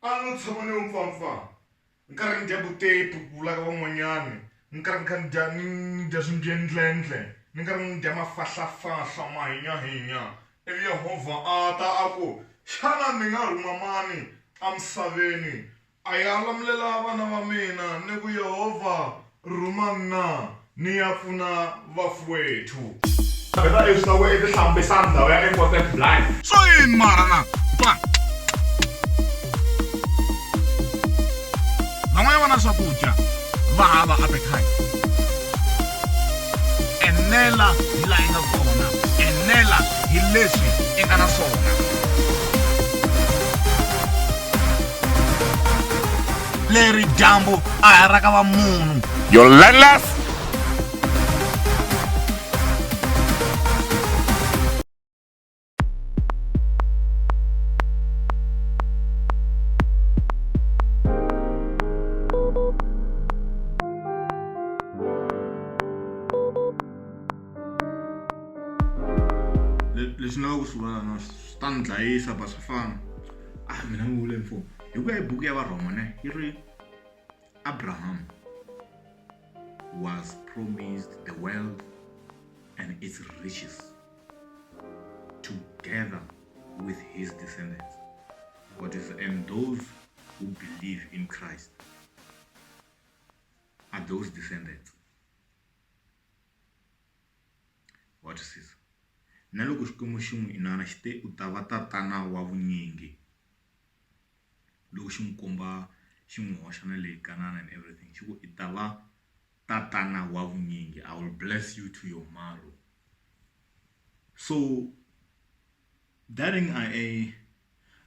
A no tshama ni yo mpfampfa ni karhi ni dya vutepu ku vula ka van'wanyani ni karhi ni kha ni dya ni ni dya swimbye-ndlendle ni karhi ni dya mafahlafahla mahinya-hinya ivi Yehovha a ta a ku, Xana ni nga rhuma mani emisaveni a ya lamulela vana va mina ni ku Yehovha Rhuma mna ni ya pfuna vafuwethu. Vheta leswi ta ku i tihlambisa ndhawu ya important blind. Swa yini mara na va van'wana vana swakudya va hava appetite enela hi laha yi nga kona enela hi leswi i nga na swona leri dyambu a ha ra ka va munhu your landless lexi ni lava ku swi vona no swi ta ni dlayisa ba swa fana a ah, mina ni vule mfumo Hi ku ya hi buku ya Varhoma ne yi ri Abraham was promised the world and its riches together with his descendants what is and those who believe in Christ are those descendants wa twisisa na loko xikwembu xi n'wi inana xi te u ta va tatana wa vunyingi loko xi n'wi komba xi n'wi hoxa na le kan'ana and everything xi ku i ta va tatana wa vunyingi i will bless you to your marrow so darling i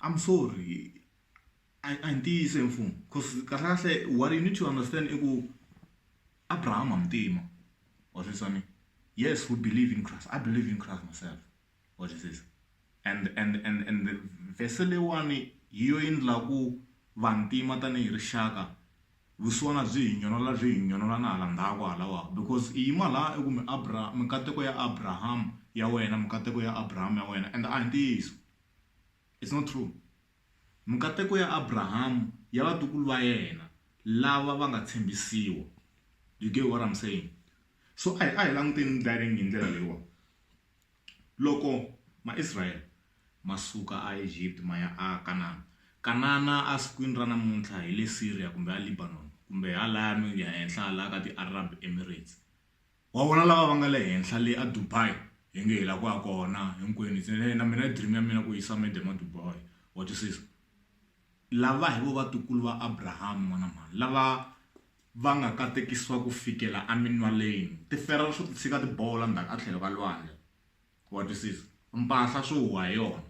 i'm sorry a a hi ntiyiso hi mfumo cause kahle kahle what you need to understand i ku abrahama muntima wa sweswani yes we believe in christ i believe in christ myself What is this? And and and and verse leyiwani hi yo yi ndla ku vantima tanihi rixaka vusiwana byi hi nyonola byi hi nyonola na hala ndzhaku halawa because i yima laha i ku mi abra mikateko ya abraham ya wena mikateko ya abraham ya wena and a hi ntiyiso it's not true mikateko ya abraham ya vatukulu va yena lava va nga tshembisiwa you get what i'm saying so a hi a hi languteni ndlaring hi ndlela leyiwani Loko Maisrayele ma suka aEgipta ma ya aKanana, Kanana asikwini ra namuntlha hi le Siriya kumbe aLibanon kumbe halaya ehenhla halaya ka tiArab Emirates. Wa vona lava va nga le henhla le aDubai? Hi nge hi lava ku ya kona hinkwenu. Se na mina i dream ya mina ku yisa madam aDubai. Wa twisisa? Lava hi vona vatukulu va Abraham n'wana mhani lava. va nga katekisiwa ku fikela eminwaleni, tiferero swo titshika ti bola ndzhaku etlhelo ka lwandle. Wa twisisa? Mpahla swo huha hi yona.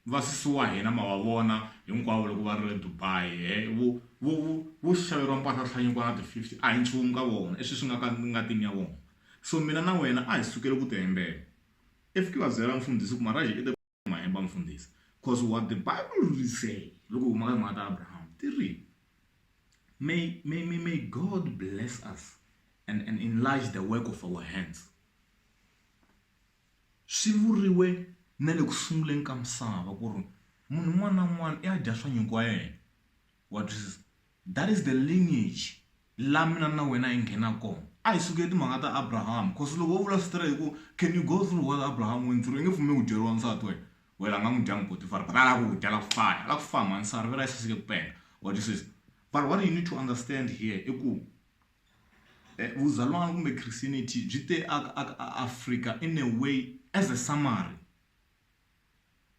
Vasesi wa hina ma va vona hinkwavo loko va ri le Dubai, he, vo, vo, vo, vo xaveriwa mpahla swihlanyukwana na ti-fifty, a hi nchumu ka vona, i swilo swi nga ka ngatini ya vona. So mina na wena a hi sukeli ku ti hembela. If ki va byela, Mfundhisi, ku Maraji i the. ma hemba mfundhisi because what the bible will say loko huma ka timhaka ta abraham ti ri may, may, may, may god bless us and, and enlarge the work of our hands swi vuriwe na le ku sunguleni ka misava ku ri munhu un'wana na un'wana i ya dya swa nyuku wa yena wa twisisa that is the lineage la mina na wena hi nghena kona a hi sukele timhaka ta abraham cause loko wo vula switere hi ku can you go through what abraham went through i nge pfumeli ku dyeriwa nsati wena wena nga n'wi dya mupotifari but a la ku dya la ku faya la ku faya mansari vela yi saseke ku penga wa twisisa but what you need to understand here i ku eh, vuzalwana kumbe christianity byi te aka africa in a way as a summary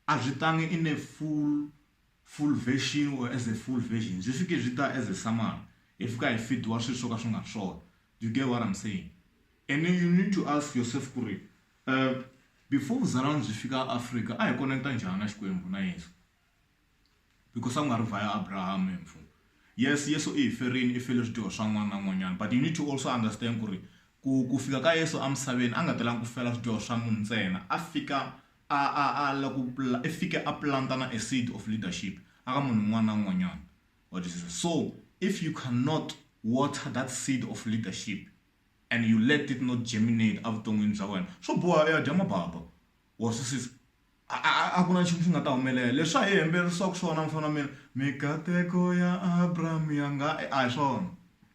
a byi tangi in a full full version or as a full version byi fike byi ta as a summary hi fika hi fediwa swilo swo ka swi nga ri swona you get what am saying and then you need to ask yourself ku ri before vuzalwana byi fika Afrika a hi koneketa njhani na Xikwembu na Yeso. because a ku nga ri via Abraham mfo yes Yesu i hi ferini i fele swidyoho swa n'wana na n'wanyana but you need to also understand ku ri ku ku fika ka Yesu emisaveni a nga telanga ku fela swidyoho swa munhu ntsena a fika a a a la ku i fike a planta na a seed of leadership aka munhu un'wana na un'wanyana wa twisisa so if you cannot water that seed of leadership and you let it not germinate evuton'wini bya wena swo boha u ya dya mababa wa swisisa A a a a ku na nchumu xi nga ta humelela leswa hi hembelerisaku swona mufana mina mikateko ya Abraham ya nga e a hi swona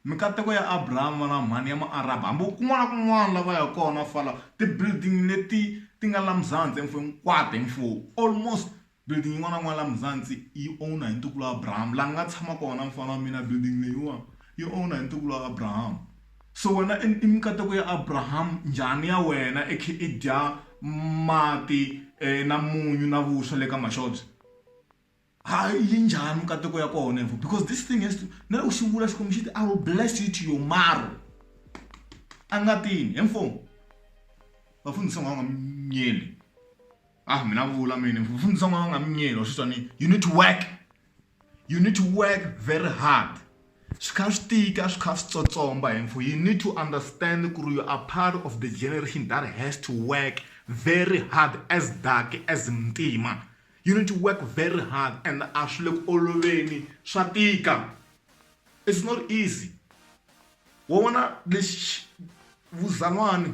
mikateko ya Abraham vana va mhani ya ma Arab hambi u kun'wana kun'wana la va ya kona fala ti building leti ti nga la muzanzi e mfo hinkwato hi mfo almost building yin'wana na yin'wana la muzanzi yi owner hi ntukulu Abraham la ni nga tshama kona mufana wa mina building leyiwa yi owner hi ntukulu Abraham. So wena i i mikateko ya Abraham njhani ya wena i khi i dya mati na munyu na vuswa le ka maxobye ha yi njhani mikateko ya kona info because this thing has to na loko xi vula Xikwembu xi ti I will bless you to your marrow a nga tini info vafundhisi va nga minyeni a mina vula mina vafundhisi va nga minyeni wa swi twa ni you need to work. You need to work very hard swi kha swi tika swi kha swi tsotsomba hi mfu you need to understand ku ri you are part of the generation that has to work very hard as dark as muntima you need to work very hard and a swi le ku oloveni swa tika it's not easy wa vona lexi vuzalwani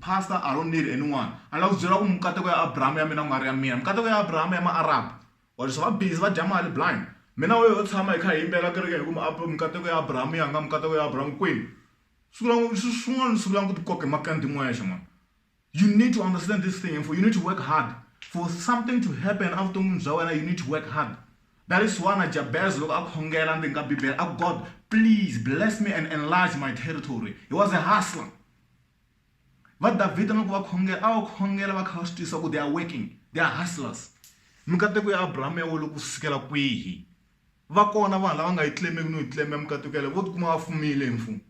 Pastor, I don't need anyone. A ni la ku byela ku mikateko ya Abrahama ya mina ku nga ri ya mina. Mikateko ya Abrahama ya ma-Arab. Wa twisisa? Va busy va dya mali blind. Me na wehe ho tshama hi kha hi yimbela ekerekeni hi ku mi mikateko ya Abrahama ya nga mikateko ya Abrahama kwini? Sungula ku swin'wana ni sungula ku ti koka hi makandza hi n'wexe mhani. You need to understand this thing info you need to work hard for something to happen evuton'wini bya wena you need to work hard. That is why na Jabez loko a khongela ndzeni ka Bibele a ku God please bless me and enlarge my territory. He was a hustler. Va David a nga ku va khongela a va khongela va kha va swi twisisa ku they are working they are hustlers mikateko ya Abraham ya wolo ku sukela kwihi va kona vanhu lava nga yi claimeki no yi claim mikateko yale vo tikuma va fumile hi mfumo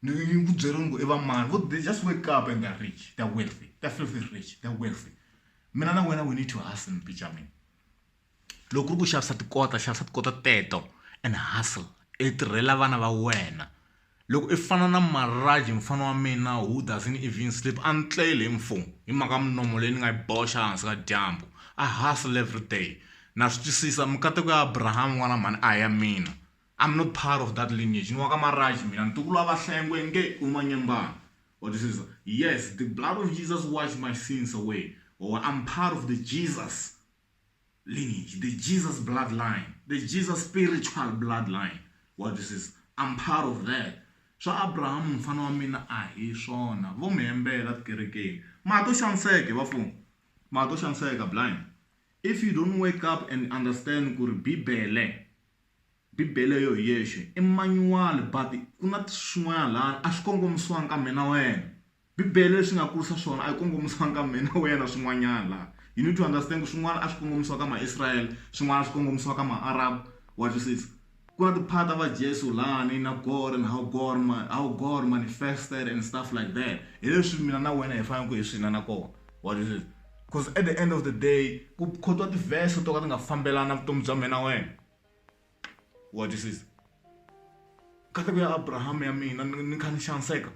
ni ku byeriwa ngo i va mani vo they just wake up and they're rich they're wealthy they're filthy rich they're wealthy mina na wena we need to hustle mpica mina. loko ku ri ku xavisa tikota xavisa tikota teto and hustle i tirhela vana va wena loko i fana na Marhaj mufana wa mina who doesn't even sleep a ni tleli mfo hi mhaka ya munomo leyi ni nga yi boxa ehansi ka dyambu I hustle everyday na swi twisisa mikateko ya Abraham n'wana mhani a hi ya mina I'm not part of that lineage ni wa ka Marhaj mina ntukulu wa Vahlengwe nge u manyembani wa twisisa yes the blood of Jesus wash my sins away or I'm part of the Jesus. lineage, the Jesus bloodline, the Jesus spiritual bloodline. Wa twisisa? I'm part of that. Swa Abraham mfana wa mina a hi swona. Vo mi hembela tikerekeni. Ma to xaniseka vafumi. Ma to xaniseka blind. If you don't wake up and understand ku ri Bibele Bibele yo hi yexe i manual but ku na swin'wana laha a swi kongomisiwanga ka mina wena. Bibele leswi nga kurisa swona a yi kongomisanga ka mina wena swin'wanyana laha you need to understand ku swin'wana a swi kongomisiwa ka maisrayele swin'wana a swi kongomisiwa ka maarabu wa twisisa ku na tiphara ta va jesu lani na gore and how gore how gore manifested and stuff like that hi leswi mina na wena hi faneleke hi swi inana kona wa twisisa because at the end of the day ku khotiwa tivhese to ka ti nga fambelani na vutomi bya mina wena. wa twisisa nkateko ya abrahama ya mina ni kha ni xaniseka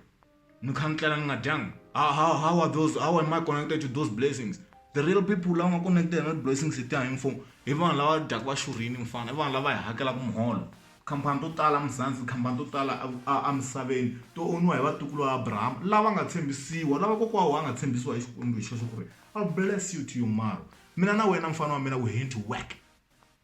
ni kha ni tlela ni nga dyanga how, how, how are those how am i connected to those blessings the real people lava nga connected na blessings letiya hi mfumo hi vanhu lava dyaka va xurhini mufana i vanhu lava hi hakelaka muholo khampani to tala muzanzi khampani to tala emisaveni to oniwa hi vatukulu va abrahama lava nga tshembisiwa lava kokwawo va nga tshembisiwa hi xikwembu hi xoxo ku ri a bless you to your maro mina na wena mfana wa mina we henti work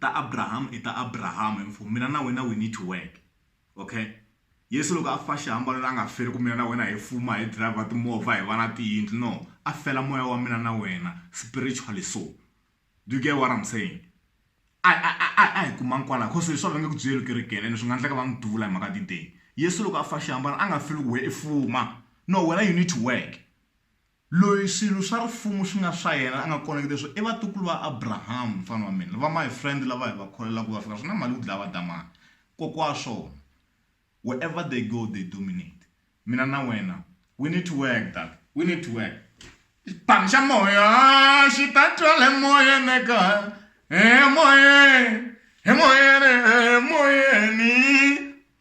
ta Abraham i ta Abraham and for mina na wena we need to work okay Yesu loko a fa xihambanweni la nga feli ku mina na wena hi fuma hi driver timovha hi va na tiyindlu no a fela moya wa mina na wena spiritually so do you get what I'm saying a a a a hi kuma nkwala cause leswi va nge ku byeli kerekeni ene swi nga endleka va n'wi duvula hi mhaka tideni Yesu loko a fa xihambanweni a nga feli ku we i fuma no wena you need to work Loyi swilo swa Rifumu swi nga swa yena, a nga kona eka leswo, i vatukulu va Abraham, mfana wa mina. Va my friend lava hi va kholelaka ku va fika, swi na mali ku dlaya va damani. Kokwa wa swona. Wherever they go, they dominate. Mina na wena, we need to work that, we need to work. Xipano xa moya xi ta twala emoyeni eka, emoyeni, emoyeni, emoyeni.